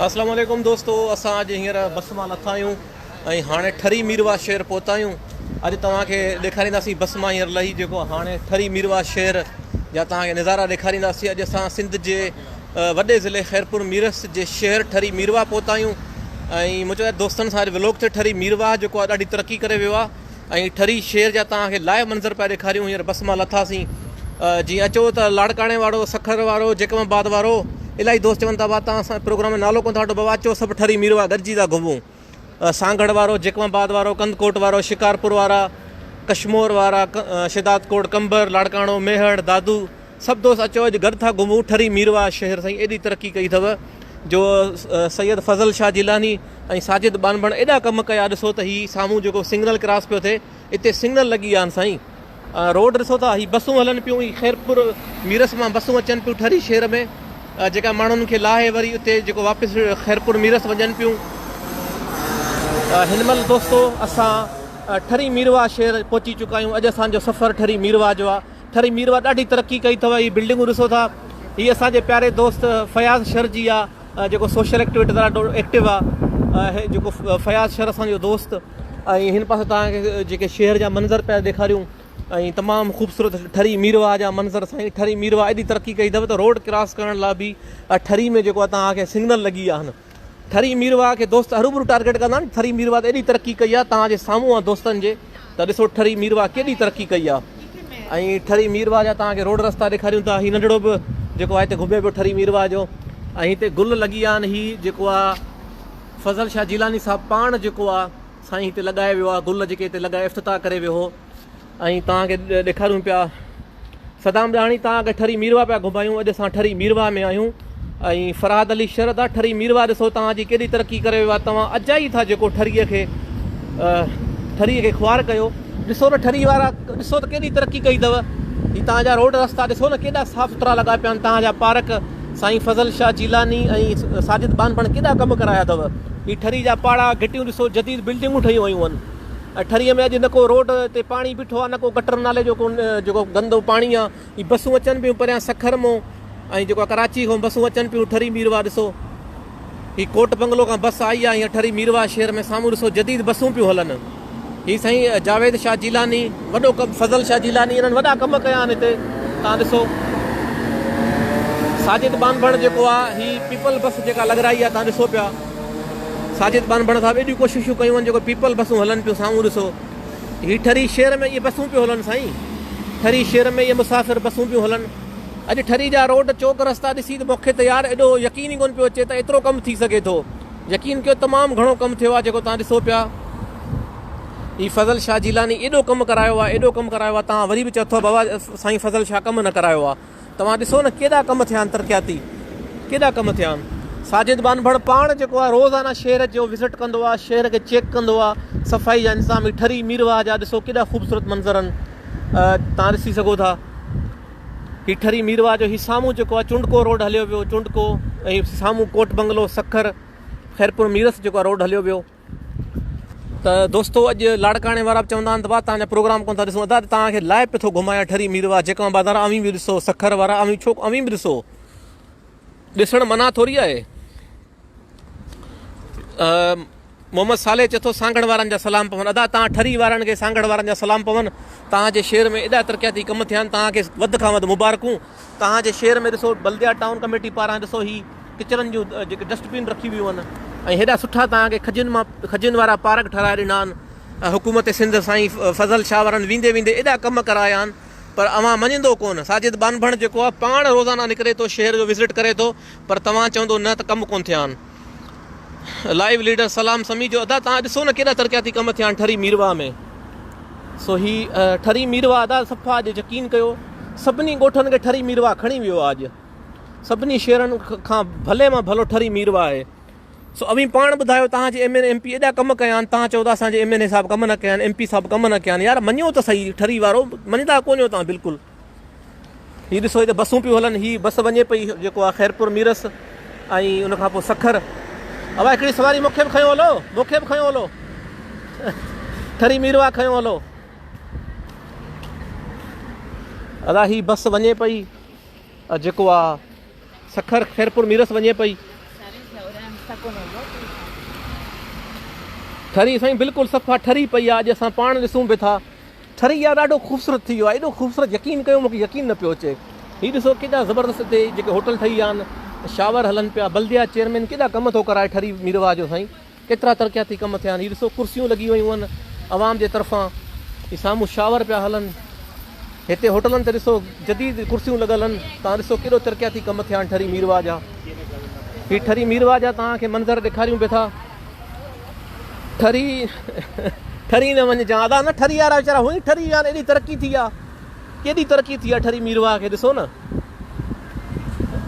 اسلام عليڪم دوستو اسان اڄ هينئر بس مان لٿا آهيون ۽ هاڻي ٺري ميرواهه شهر پهتا آهيون اڄ توهان کي ڏيکارينداسين بس مان هينئر لهي جيڪو هاڻي ٺري ميرواهه شهر جا توهان کي نظارا ڏيکارينداسين اڄ اسان سنڌ جي وڏي ضلعي خيرپور ميرس جي شهر ٺري ميرواهه پهتا آهيون ۽ مون چيو دوستن سان اڄ ولوگ تي ٺري ميرواهه جيڪو آهي ڏاڍي ترقي ڪري ويو آهي ۽ ٺري شير جا توهان کي لائيو منظر پيا ڏيکاريون هينئر بس مان لٿاسين جي اچو ته لاڙڪاڻي وارو سکر وارو جيڪب آباد وارو الاهي دوست چون ٿا ڀا توهان اسان پروگرام جو نالو ڪون ٿا وٺو بابا اچو سڀ ٺري ميروا گڏجي ٿا گهمون سانگهڙ وارو جيڪب آباد وارو ڪنڌڪوٽ وارو شڪارپور وارا ڪشمور وارا شهدادڪوٽ قمبر لاڙڪاڻو ميهڙ دادو سڀ دوست اچو اڄ گڏ ٿا گهمون ٺري ميرواهه شهر سائين ايڏي ترقي ڪئي اٿو جو سيد فضل شاهه جيلاني ۽ ساجد ٻانڀڻ ايڏا ڪم ڪيا ڏسو ته هي سامهون جيڪو سگنل ڪراس پيو ٿئي اتي سگنل لڳي ويا آهن سائين روڊ ڏسو ٿا هي بسون هلن پيون هي خيرپور ميرس مان بسون اچن پيون ٺري شهر ۾ جيڪا ماڻهن کي لاهي وري اتي جيڪو واپس خيرپور ميرس وڃن پيون هن مهل دوستو اسان ٺري ميرواهه شهر پهچي چڪا آهيون اڄ اسان جو سفر ٺري ميرواهه جو آهي ٺري ميروا ڏاڍي ترقي ڪئي اٿو هي بلڊنگون ڏسو ٿا هي اسان جي پياري دوست فياض شر جي آ جيڪو سوشل ايڪٽيويٽر ڏاڍو ايڪٽو آ هي جيڪو فياض شر اسان جو دوست ۽ هن پاسي توهان کي جيڪي شهر جا منظر پيا ڏيکاريون ۽ تمام خوبصورت ٺري ميروا جا منظر سائين ٺري ميروا ايڏي ترقي ڪئي اٿو ته روڊ ڪراس ڪرڻ لاء به ٺري ۾ جيڪو توهان کي سگنل لڳي ويا آهن ٿري ميرواهه کي دوست هروڀرو ٽارگيٽ ڪندا آهن ٿري ميرواهه ته ايڏي ترقي ڪئي آهي توهان جي سامهون آهي دوستن جي ته ڏسو ٺري ميرواهه ڪيڏي ترقي ڪئي آهي ۽ ٺري ميرواهه جا توهان کي روڊ رستا ڏيکاريون ٿا هي ننڍڙو به جيڪو آهي هتي گهمي پيو ٺري ميرواهه جو ۽ هتي گل لڳي ويا آهن هي جيڪو آهي فضل شاهه جيلاني صاحب پاڻ جيڪو آهي سائين هتي لڳائي ويو آهي گل جيڪي هتي لڳائي افتتاح ڪري ويو هو ۽ توهان کي ڏيکاريون پيا صدام ڏاهاڻي توهان کي ٺري ميرواهه پيا گهمايون اڄ اسان ٺري ميرواهه ۾ آهيون ۽ فرحاد علي شردا ٺري ميرواهه ڏسو توهان جي ڪيڏي ترقي ڪري ويو آهي توهان اجائي ٿا جيڪو ٺري کي ٺري کي خوار ڪيو ڏسو ته ٺري وارا ڏسو ته ڪيڏي ترقي ڪئي اٿو هي توهان جا روڊ رستا ڏسو نه ڪيڏا صاف سٿرا لڳا پيا آهن توهان جا پارڪ سائين فضل شاهه جيلاني ۽ ساجد بانڀڻ ڪيڏا ڪم ڪرايا اٿو هي ٺري جا پاڙا گهٽيون ڏسو جديد بلڊنگون ٺهيون ويون آهن ٺري ۾ اڄ نه ڪو روڊ تي پاڻي بيٺو آ نه ڪو گٽر نالي جو ڪو جيڪو گندو پاڻي آ هي بسون اچن پيون پريان سکر مون ۽ جيڪو ڪراچي کان بسون اچن پيون ٺري ميرواهه ڏسو هي ڪوٽ بنگلو کان بس آئي آ هي ٺري ميرواهه شهر ۾ سامهون ڏسو جديد بسون پيون هلن هي سائين جاويد شاهه جيلاني وڏو ڪم فضل شاهه جيلاني انهن وڏا ڪم ڪيا آهن هتي تان ڏسو ساجد ٻانڀڻ جيڪو آ هي پيپل بس جيڪا لڳرائي آ تان ڏسو پيا ساجد ٻانڀڻ صاحب ايڏيون ڪوششون ڪيون آهن جيڪو پيپل بسون هلن پيون سامهون ڏسو هي ٺري شهر ۾ اهي بسون پيون هلن سائين ٺري شهر ۾ اهي مسافر بسون پيون هلن اڄ ٺري جا روڊ چوڪ رستا ڏسي ته مونکي ته يار ايڏو يقين ئي ڪونه پيو اچي ته ايترو ڪم ٿي سگهي ٿو يقين ڪيو تمام گهڻو ڪم ٿيو آهي جيڪو توهان ڏسو پيا هي فضل شاهه جيلاني ايڏو ڪم ڪرايو آهي ايڏو ڪم ڪرايو آهي توهان وري به چئو ٿا بابا سائين فضل شاهه ڪم نه ڪرايو آهي توهان ڏسو نه ڪيڏا ڪم ٿيا آهن ترقياتي ڪيڏا ڪم ٿيا آهن ساجد ٻانڀڻ پاڻ جيڪو آهي روزانه شهر جو وزٽ ڪندو آهي شهر کي چيڪ ڪندو آهي صفائي جا انتظام هي ٺري ميرواهه جا ڏسو ڪيڏا خوبصورت منظر آهن تان ڏسي سگهو ٿا هي ٺري ميرواهه جو هي سامهون جيڪو آهي چونڊڪو روڊ هليو ويو چونڊڪو ۽ سامهون ڪوٽ بنگلو سکر خيرپور ميرس جيڪو آهي روڊ هليو ويو ته دوستو اڄ لاڙڪاڻي وارا به چوندا آهن ته ڀاء تان جا پروگرام ڪون ٿا ڏسون ادا تان کي لائيو پٿو گهمايا ٺري مير وارا جيڪان بازار اوهين به ڏسو سکر وارا اوهين ڇو اوهين به ڏسو ڏسڻ منع ٿوري آهي محمد صالح چٿو سانگھڙ وارن جا سلام پون ادا تان ٺري وارن کي سانگھڙ وارن جا سلام پون تان جي شهر ۾ ايڏا ترقياتي ڪم ٿيان تان کي وڌ کان وڌ مبارڪون توهان جي شهر ۾ ڏسو بلديات ٽائون ڪميٽي پاران ڏسو هي ڪچرن جون جيڪي ڊسٽ بين رکيون ويون آهن ۽ هيڏا سٺا توهان کي کجين مان کجين وارا پارڪ ٺهرائي ڏنا آهن حڪومت سنڌ سائين فضل شاهه وارن ويندي ويندي ايڏا ڪم ڪرايا آهن پر اوهان مڃيندو ڪونه ساجد ٻانڀڻ جيڪو آهي پاڻ روزانه نڪري ٿو شهر جو وزٽ ڪري ٿو پر توهان چوندو نه ته ڪم ڪونه ٿيا آهن. لائيو ليڊر سلام سمي جو ادا تان ڏسو نه ڪيڏا ترقياتي ڪم ٿيا آهن ٺري ميرواهه ۾ سو هي ٺري ميرواهه ادا صفا اڄ يقين ڪيو سڀني ڳوٺن کي ٺري ميرواهه کڻي ويو اڄ سڀني شهرن کان ڀلي مان ڀلو ٺري ميرواهه آهي سو اوهين پاڻ ٻڌايو تان جي ايم اين ايم پي ايڏا ڪم ڪيا آهن تان چودا اسان جي ايم اين اي صاحب ڪم نه ڪيا آهن ايم پي صاحب ڪم نه ڪيا آهن يار مڃو ته صحيح ٺري وارو مڃدا ڪونهيو تان بلڪل هي ڏسو هي ته بسون پيون هلن هي بس وڃي پئي جيڪو آ خيرپور ميرس ۽ ان کان پوء سکر اوا هڪڙي سواري مونکي به کنيو هلو مونکي به کنيو هلو ٺري ميروا کنيو هلو ادا هي بس وڃي پئي جيڪو آ سکر خيرپور ميرس وڃي پئي ٺري سائين بلڪل صفا ٺري پئي آ اڄ اسان پاڻ ڏسون به ٿا ٺري يار ڏاڍو خوبصورت ٿي ويو آ ايڏو خوبصورت يقين ڪيو مونکي يقين نه پيو اچي هي ڏسو ڪيڏا زبردست هتي جيڪي هوٽل ٺهي ويا آهن شاور هلن پيا بلديا چيئرمين ڪيڏا ڪم ٿو ڪرائي ٺري ميرواهه جو سائين ڪيترا ترقياتي ڪم ٿيا آهن هي ڏسو ڪرسيون لڳي ويون آهن عوام جي طرفان هي سامهون شاور پيا هلن هتي هوٽلن تي ڏسو جديد ڪرسيون لڳل آهن تان ڏسو ڪيڏو ترقياتي ڪم ٿيا آهن ٺري ميرواهه جا هي ٺري ميرواهه جا تان کي منظر ڏيکاريون پيا ٿا ٺري ٺري نه وڃ جان ادا نه ٺري وارا ويچارا هئي ٺري ويا ايڏي ترقي ٿي آ ڪيڏي ترقي ٿي آ ٺري ميروا کي ڏسو نه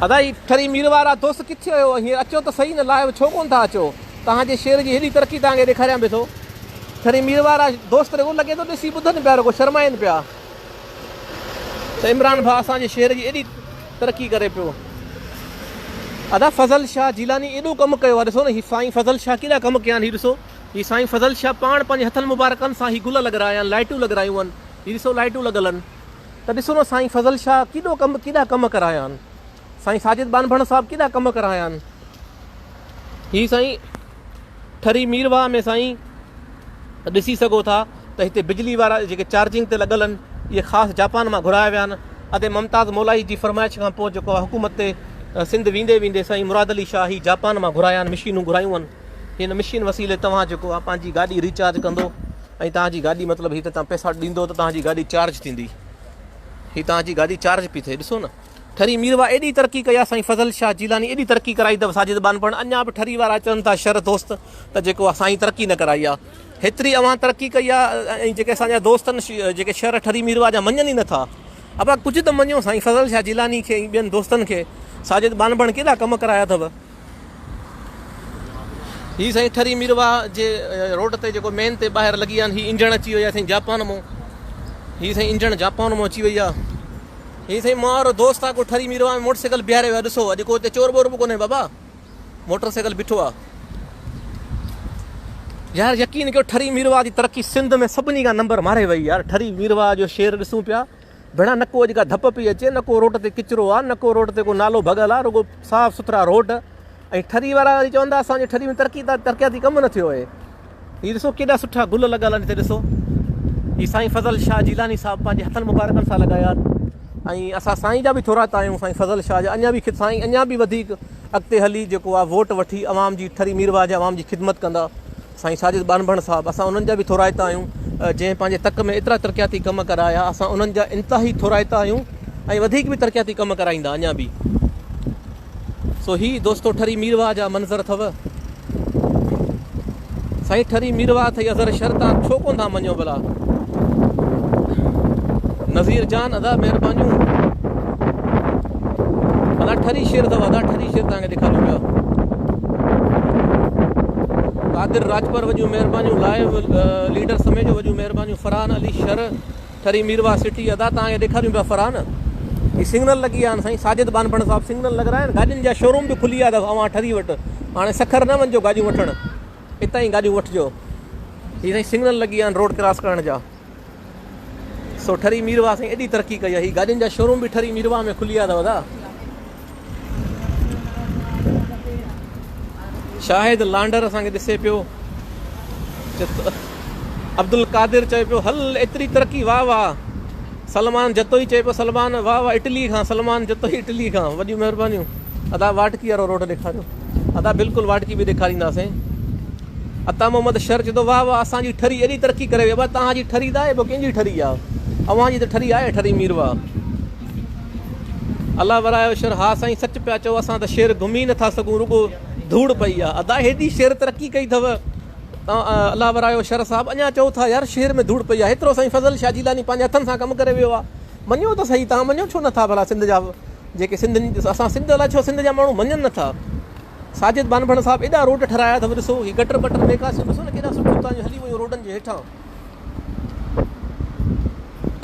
ادا هي ٺري ميروارا دوست ڪٿي ويو هي اچو ته صحيح نه لائيو ڇو ڪون ٿا اچو تهان جي شعر جي هيڏي ترقي تهان کي ڏيکاريان به ٿو ٺري ميروارا دوست رڳو لڳي ٿو ڏسي ٻڌن پيا رڳو شرمائن پيا ته عمران ڀا اسان جي شعر جي ايڏي ترقي ڪري پيو ادا فضل شاھ جيلاني ايڏو ڪم ڪيو آ ڏسو نه ھي سائين فضل شاھ ڪيڏا ڪم ڪيا آھن ھي ڏسو ھي سائين فضل شاھ پاڻ پنھنجي ھٿن مبارڪن سان ھي گل لڳرايا آھن لائٽون لڳرايون آھن ھي ڏسو لائٽون لڳل آھن ته ڏسو نه سائين فضل شاھ ڪيڏو ڪم ڪيڏا ڪم ڪرايا آھن سائين ساجد ٻانڀڻ صاحب ڪيڏا ڪم ڪرايا آھن ھي سائين ٺري مير واهه ۾ سائين ڏسي سگهو ٿا ته هتي بجلي وارا جيڪي چارجنگ تي لڳل آهن اهي خاص جاپان مان گهرايا ويا آهن ادي ممتاز مولاهي جي فرمائش کان پوء جيڪو حڪومت تي سنڌ ويندي ويندي سائين مراد علي شاهه هي جاپان مان گهرايا آهن مشينون گهرايون آهن هن مشين وسيلي توهان جيڪو آهي پنهنجي گاڏي ريچارج ڪندو ۽ تنهنجي گاڏي مطلب هي ته تنهن پئسا ڏيندو ته تنهنجي گاڏي چارج ٿيندي هي تنهنجي گاڏي چارج پي ٿئي ڏسو نه ٺري ميروا ايڏي ترقي ڪئي آ سائين فضل شاھ جيلاني ايڏي ترقي ڪرائي تھ ساجد ٻانڀڻ اڃا بھ ٺري وارا چون ٿا شھر دوست تھ جيڪو آ سائين ترقي نھ ڪرائي آ ھيتري اوھان ترقي ڪئي آ ۽ جيڪي اسان جا دوست آھن جيڪي شھر ٺري ميروا جا مڃن ئي نھ ٿا ابا ڪجھ تھ مڃيو سائين فضل شاھ جيلاني کي ۽ ٻين دوستن کي ساجد ٻانڀڻ ڪيڏا ڪم ڪرايا اٿو. هي سائين ٺري مير واهه جي روڊ تي جيڪو مين تي ٻاهر لڳي آن هي انجڻ اچي وئي آ سائين جاپان مون هي سائين انجڻ جاپان مون اچي وئي آ هي سائين مار دوست آ کو ٺري مير واهه موٽر سائيڪل بيهاري ويا ڏسو اڄ کو ته چور بور به ڪونه بابا موٽر سائيڪل بيٺو آ یار یقین ڪيو ٺري مير واهه جي ترقي سنڌ ۾ سڀني کان نمبر ماري وئي يار ٺري مير واهه جو شهر ڏسون پيا ڀيڻا نه ڪو اڄ ڪا ڌپ پئي اچي نه ڪو روڊ تي ڪچرو آ نه ڪو روڊ تي ڪو نالو ڀڳل آ رڳو صاف سٿرا روڊ ۽ ٺري وارا وري چوندا اسان جي ٺري ۾ ترقي ته ترقياتي ڪم نه ٿيو آهي هي ڏسو ڪيڏا سٺا گل لڳل آهن هتي ڏسو هي سائين فضل شاهه جيلاني صاحب پنهنجي هٿن مبارڪن سان لڳايا آهن ۽ اسان سائين جا به ٿورا تا آهيون سائين فضل شاهه جا اڃا به سائين اڃا به وڌيڪ اڳتي هلي جيڪو آهي ووٽ وٺي عوام جي ٺري ميرواهه جي عوام جي خدمت ڪندا سائين ساجد ٻانڀڻ صاحب اسان انهن جا به ٿورائتا آهيون جنهن پنهنجي تڪ ۾ ايترا ترقياتي ڪم ڪرايا اسان انهن جا انتهائي ٿورائتا آهيون ۽ وڌيڪ به ترقياتي ڪم ڪرائيندا اڃا به سو هي دوستو ٺري ميرواهه جا منظر اٿو سائين ٺري ميرواهه اٿئي اظهر شر تان ڇو ڪون ٿا مڃو بلا نظير جان ادا مهربانيون ادا ٺري شير اٿو ادا ٺري شير تان کي ڏيکاريون پيا قادر راجپر وڏيون مهربانيون لائيو ليڊر سمي جو وڏيون مهربانيون فرحان علي شر ٺري ميروا سٽي ادا تان کي ڏيکاريون پيا فرحان هي سگنل لڳي ويا آهن سائين ساجد بانپڻ صاحب سگنل لڳ رها آهن گاڏين جا شوروم به کلي ويا اٿس اوهان ٺري وٽ هاڻي سکر نه وڃجو گاڏيون وٺڻ هتان ئي گاڏيون وٺجو هي سائين سگنل لڳي ويا آهن روڊ ڪراس ڪرڻ جا سو ٺري ميرواهه سائين ايڏي ترقي ڪئي آ هي گاڏين جا شوروم به ٺري ميرواهه ۾ کلي ويا اٿو ادا. شاهد لانڊر اسان کي ڏسي پيو عبدالقادر چوي پيو هل ايتري ترقي واهه واهه سلمان جتوئي چوي پيو سلمان واهه واهه اٽلي کان سلمان جتوئي اٽلي کان وڏيون مهربانيون ادا واٽڪي وارو روڊ ڏيکاريو ادا بلڪل واٽڪي به ڏيکارينداسين عطا محمد شر چيو ته واھ واھ اسان جي ٺري ايڏي ترقي ڪري وئي ابا توهان جي ٺري ته آهي ٻيو ڪنهن جي ٺري آ اوهان جي ته ٺري آهي ٺري مير واھ الله ورايو شر ها سائين سچ پيا چئو اسان ته شهر گهمي نٿا سگهون رڳو ڌوڙ پئي آ ادا هيڏي شهر ترقي ڪئي اٿو توهان الله ورايو شر صاحب اڃا چئو ٿا يار شهر ۾ ڌوڙ پئي آ هيترو سائين فضل شاھ جيلاني پنهنجي هٿن سان ڪم ڪري ويو آ مڃيو ته سهي توهان مڃيو ڇو نٿا ڀلا سنڌ جا جيڪي سنڌ اسان سنڌ الاء ڇو سنڌ جا ماڻهو مڃن نٿا. ساجد ٻانڀڻ صاحب ايڏا روڊ ٺھرايا اٿو ڏسو ھي گٽر بٽر نيڪاسيون ڏسو نه ڪيڏا سٺيون اتان جون ھلي ويون روڊن جي ھيٺان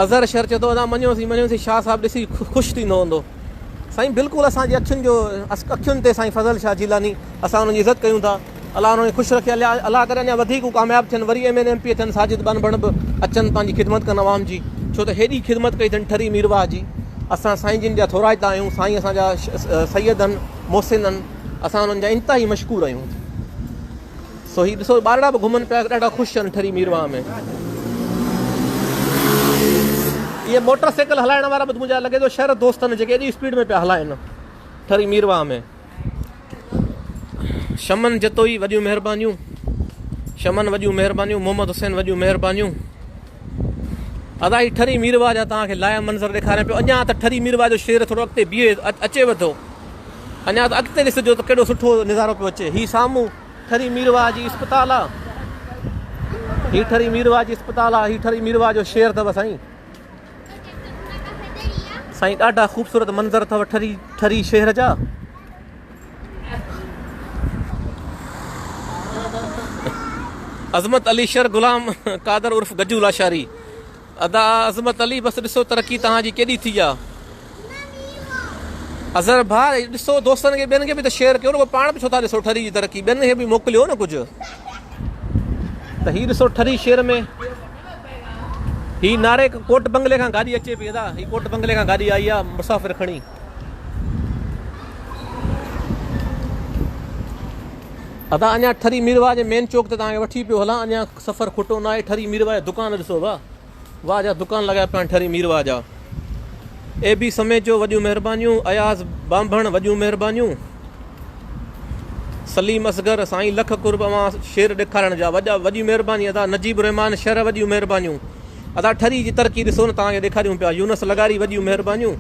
اظھر شھر چئي ٿو ادا مڃيوسين مڃيوسين شاھ صاحب ڏسي خوش ٿيندو ھوندو سائين بلڪل اسان جي اکين جو اکين تي سائين فضل شاھ جيلاني اسان انهن جي عزت ڪيون ٿا الله انهن کي خوش رکي الله ڪري اڃا وڌيڪ هو ڪامياب ٿين وري ايم اين ايم پي ٿين ساجد ٻانڀڻ به اچن پنهنجي خدمت ڪن عوام جي ڇو ته هيڏي خدمت ڪئي اٿن ٺري ميرواهه جي اسان سائين جن جا ٿورائتا آهيون سائين اسان جا سيد آهن محسنن، اسان انهن جا انتهائي مشڪور آهيون. سو هي ڏسو ٻارڙا به گهمن پيا ڏاڍا خوش ٿين ٺري ميرواهه ۾. اهي موٽر سائيڪل هلائڻ وارا به مون جا لڳي ٿو شهر دوستن جيڪي ايڏي اسپيڊ ۾ پيا هلائن ٺري ميرواهه ۾. شمن جتوئي وڏيون مهربانيون. شمن وڏيون مهربانيون محمد حسين وڏيون مهربانيون. ادا هي ٺري ميرواهه جا توهان کي لائيو منظر ڏيکاريان پيو اڃا ته ٺري ميرواهه جو شير ٿورو اڳتي بيهي اچيو ٿو اڃا ته اڳتي ڏسجو ته ڪهڙو سٺو نظارو پيو اچي هي سامهون ٺري ميرواهه جي اسپتال آ هي ٺري ميرواهه جي اسپتال آ هي ٺري ميرواهه جو شير اٿو سائين سائين ڏاڍا خوبصورت منظر اٿو ٺري ٺري شهر جا عظمت علي شر غلام قادر عرف گجو لاشاري ادا عظمت علي بس ڏسو ترقي توهان جي ڪيڏي ٿي آ اظهر ڀاء ڏسو دوستن کي ٻين کي به ته شيئر ڪيو نه پاڻ به ڇو ٿا ڏسو ٺري جي ترقي ٻين کي به موڪليو نه ڪجهه ته هي ڏسو ٺري شير ۾ هي ناري ڪوٽ بنگلي کان گاڏي اچي پئي ادا هي ڪوٽ بنگلي کان گاڏي آئي آ مسافر کڻي ادا اڃان ٺري ميرواهه جي مين چوڪ تي توهان کي وٺي پيو هلان اڃان سفر کٽو نه آهي ٺري ميرواهه جا دڪان ڏسو واهه واهه جا دڪان لڳايا پيا ٺري ميرواهه جا اي بي سميجو وڏيون مهربانيون اياز بانڀڻ وڏيون مهربانيون سليم اصغر سائين لک قرب اوهان شير ڏيکارڻ جا وڏا وڏيون مهرباني ادا نجيب الرحمان شهر وڏيون مهربانيون ادا ٺري جي ترقي ڏسو نه توهان کي ڏيکاريون پيا يونس لغاري وڏيون مهربانيون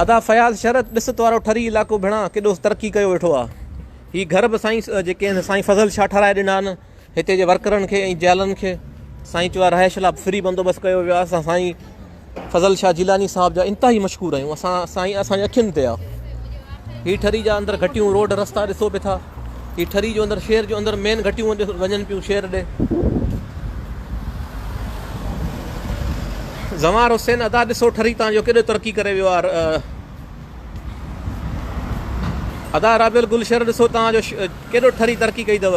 ادا فياض شرط ڏسٽ وارو ٺري علائقو ڀيڻا ڪيڏو ترقي ڪيو ويٺو آ هي گهر به سائين جيڪي هن سائين فضل شاهه ٺهرائي ڏنا آهن هتي جي ورڪرن کي ۽ جيالن کي سائين چيو آ رهائش لا فري بندوبست ڪيو ويو آ سائين فضل شاھ جيلاني صاحب جا انتھائي مشڪور آھيون اسان سائين اسان جي اکين تي آ ھي ٺري جا اندر گھٽيون روڊ رستا ڏسو به ٿا ھي ٺري جو اندر شھر جو اندر مين گھٽيون وڃن پيون شھر ڏي زوار حسين ادا ڏسو ٺري تان جو ڪيڏو ترقي ڪري ويو آ ادا رابيل گل شھر ڏسو تان جو ڪيڏو ٺري ترقي ڪئي دو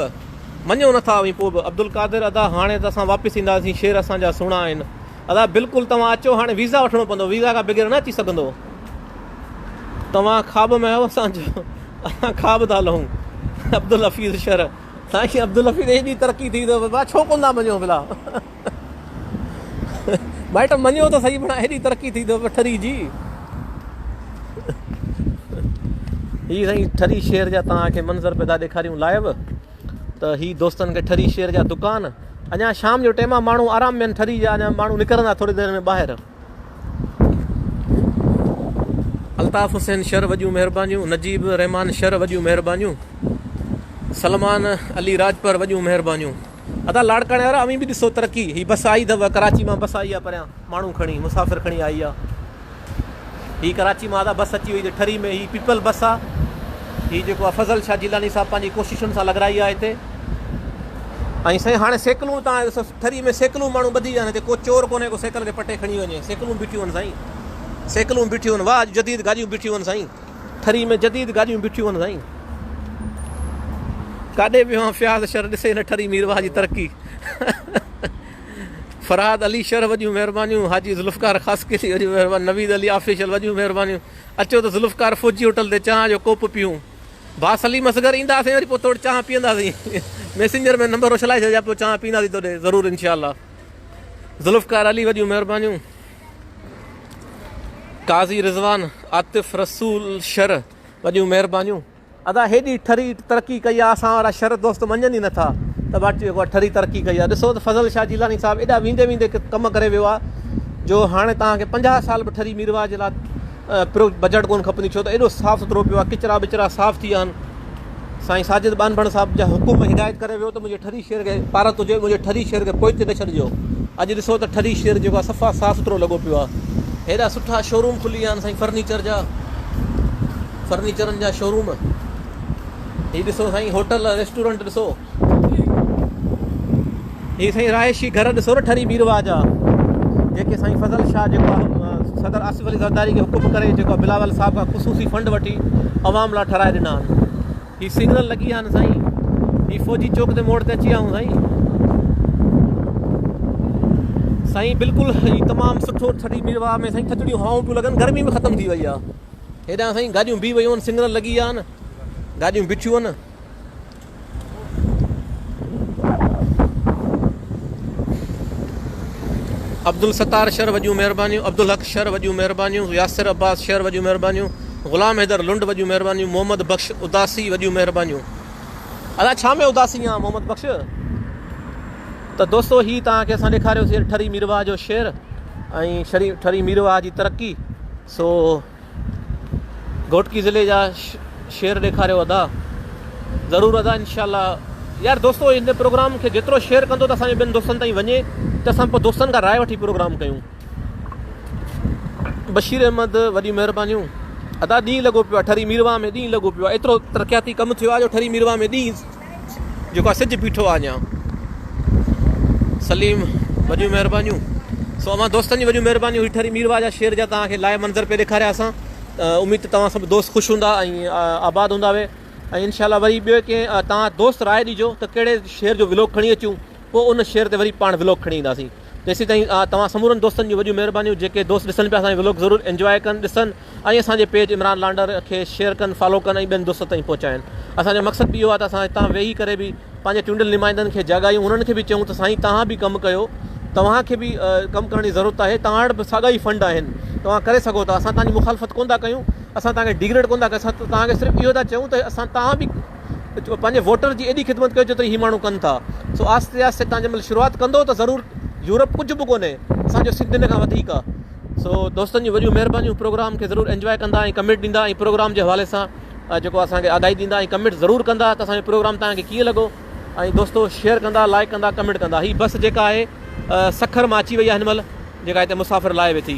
مڃو نٿا اوهين پوء به عبدالقادر ادا هاڻي ته اسان واپس اينداسين شعر اسان جا سهڻا آهن ادا بلڪل توهان اچو هاڻي ويزا وٺڻو پوندو ويزا کان بغير نه اچي سگهندو توهان خواب ۾ آهيو اسان جو اسان خواب ٿا لهون عبدالحفيظ شر سائين عبدالحفيظ ايڏي ترقي ٿي اٿو بابا ڇو ڪون ٿا مڃو بلا مائٽ مڃو ته صحيح بڻا ايڏي ترقي ٿي اٿو ٺري جي هي سائين ٺري شهر جا توهان کي منظر پيدا ڏيکاريون لائيو ته هي دوستن کي ٺري شير جا دڪان اڃا شام جو ٽيم آ ماڻهو آرام مين ٺري جا اڃا ماڻهو نڪرندا ٿوري دير ۾ ٻاهر الطاف حسين شر وڏيون مهربانيون نجيب رحمان شر وڏيون مهربانيون سلمان علي راجپر وڏيون مهربانيون ادا لاڙڪاڻي وارا اوهين به ڏسو ترقي هي بس آئي اٿو ڪراچي مان بس آئي آ پريان ماڻهو کڻي مسافر کڻي آئي آ هي ڪراچي مان آزاد بس اچي وئي هتي ٺري ۾ هي پيپل بس آ هي جيڪو آ فضل شاھ جيلاني صاحب پنهنجي ڪوششن سان لڳرائي آ هتي ۽ سائين هاڻي سيڪلون تان ٺري ۾ سيڪلون ماڻهو ٻڌي ويا آهن هتي ڪو چور ڪونهي ڪو سيڪل کي پٽي کڻي وڃي سيڪلون بيٺيون آهن سائين سيڪلون بيٺيون آهن واھ جديد گاڏيون بيٺيون آهن سائين ٺري ۾ جديد گاڏيون بيٺيون آهن سائين ڪاڏي ويو آهن فياض شر ڏسي نه ٺري مير واھ جي ترقي فرهاد علي شرح وڏيون مهربانيون حاجي ذوالفقار خاصخيلي وڏيون مهربانيون نويد علي آفيشل وڏيون مهربانيون اچو ته ذوالفقار فوجي هوٽل تي چانهه جو ڪوپ پيئون ڀا سليم اصغر اينداسين وري پوء توڙ چانهه پيئنداسين ميسنجر ۾ نمبر اڇلائي ڇڏجا پوء چانهه پيئنداسين توڏي ضرور انشاء الله ذوالفقار علي وڏيون مهربانيون قاضي رضوان عاطف رسول شرح وڏيون مهربانيون ادا هيڏي ٺري ترقي ڪئي آ اسان وارا شر دوست مڃن ئي نٿا ته ڀاٽي اهو ٺري ترقي ڪئي آ ڏسو ته فضل شاھ جيلاني صاحب ايڏا ويندي ويندي ڪم ڪري ويو آ جو هاڻي توهان کي پنجاهه سال به ٺري ميرواھ جي لا پرو بجيٽ ڪون کپندي ڇو ته ايڏو صاف سٿرو پيو آ ڪچرا بچرا صاف ٿي ويا آهن سائين ساجد ٻانڀڻ صاحب جا حڪم هدايت ڪري ويو ته منهنجي ٺري شهر کي پارت هجي منهنجي ٺري شهر کي پوئتي نه ڇڏجو اڄ ڏسو ته ٺري شهر جيڪو آ صفا صاف سٿرو لڳو پيو آ هيڏا سٺا شوروم کلي ويا آهن سائين فرنيچر جا فرنيچرن جا شوروم هي ڏسو سائين هوٽل ريسٽورنٽ ڏسو هي سائين رهائشي گهر ڏسو نه ٺري بيروا جا جيڪي سائين فضل شاهه جيڪو صدر آصف علي زرداري کي حڪم ڪري جيڪو بلاول صاحب کان خصوصي فنڊ وٺي عوام لاء ٺهرائي ڏنا آهن هي سگنل لڳي آهن سائين هي فوجي چوڪ تي موڙ تي اچي آئون سائين سائين بلڪل هي تمام سٺو ٺري بيروا ۾ سائين ٿڌڙيون هوائون پيون لڳن گرمي به ختم ٿي وئي آهي هيڏانهن سائين گاڏيون بيهي ويون آهن سنگنل لڳي ويا آهن گاڏيون بيٺيون آهن عبدالستار شر وڏيون مهربانيون عبدالحق شر وڏيون مهربانيون ياسر عباس شر وڏيون مهربانيون غلام حيدر لنڊ وڏيون مهربانيون محمد بخش اداسي وڏيون مهربانيون ادا ڇا ۾ اداسي آ محمد بخش ته دوستو هي تان کي اسان ڏيکاريو سي ٺري ميرواهه جو شعر ۽ شري ٺري ميرواهه جي ترقي سو گهوٽڪي ضلعي جا شعر ڏيکاريو ادا. ضرور ادا انشاء الله يار دوستو هن پروگرام کي جيترو شيئر ڪندو ته اسان جو ٻين دوستن تائين وڃي ته اسان پوء دوستن کان راء وٺي پروگرام ڪيون بشير احمد وڏي مهربانيون ادا ڏينهن لڳو پيو آ ٺري ميرواهه ۾ ڏينهن لڳو پيو آ ايترو ترقياتي ڪم ٿيو آ جو ٺري ميرواهه ۾ ڏينهن جيڪو آ سج بيٺو آ اڃان. سليم وڏيون مهربانيون سو اوهان دوستن جي وڏيون مهربانيون هي ٺري ميرواهه جا شير جا توهان کي لائيو منظر پي ڏيکاريا اسان اميد ته توهان سڀ دوست خوش هوندا ۽ آباد هوندا وي ۽ ان شاء الله وري ٻيو ڪي توهان دوست راء ڏيجو ته ڪهڙي شير جو ولوگ کڻي اچون پوء ان شير تي وري پاڻ ولوگ کڻي اينداسين تيسي تائين توهان سمورن دوستن جون وڏيون مهربانيون جيڪي دوست ڏسن پيا اسان جي ولوگ ضرور انجواء ڪن ڏسن ۽ اسان جي پيج عمران لانڊر کي شيئر ڪن فالو ڪن ۽ ٻين دوستن تائين پهچائن اسان جو مقصد به اهو آهي ته اسان هتان ويهي ڪري به پنهنجي چونڊيل نمائندن کي جاڳايون انهن کي به چئون ته سائين توهان به ڪم ڪيو توهان کي به ڪم ڪرڻ جي ضرورت آهي توهان وٽ به ساڳا ئي فنڊ آهن توهان ڪري سگهو ٿا اسان توهان جي مخالفت ڪونه ٿا ڪيون اسان توهان کي ڊيگريڊ ڪونه ٿا ڪيون اسان توهان کي صرف اهو ٿا چئون ته اسان توهان به پنهنجي ووٽر جي ايڏي خدمت ڪيو جيتري هي ماڻهو ڪن ٿا سو آهستي آهستي توهان جنهن مهل شروعات ڪندو ته ضرور يورپ ڪجهه به ڪونهي اسان جو سنڌ ان کان وڌيڪ آهي سو دوستن جون وڏيون مهربانيون پروگرام کي ضرور انجواء ڪندا ۽ ڪمينٽ ڏيندا ۽ پروگرام جي حوالي سان جيڪو اسان کي آگاهي ڏيندا ۽ ڪمينٽ ضرور ڪندا ته اسان جو پروگرام تان کي ڪيئن لڳو ۽ دوستو شيئر ڪندا لائڪ ڪندا ڪمينٽ ڪندا هي بس جيڪا آهي سکر مان اچي وئي آهي هن مهل جيڪا هتي مسافر لائي ويٺي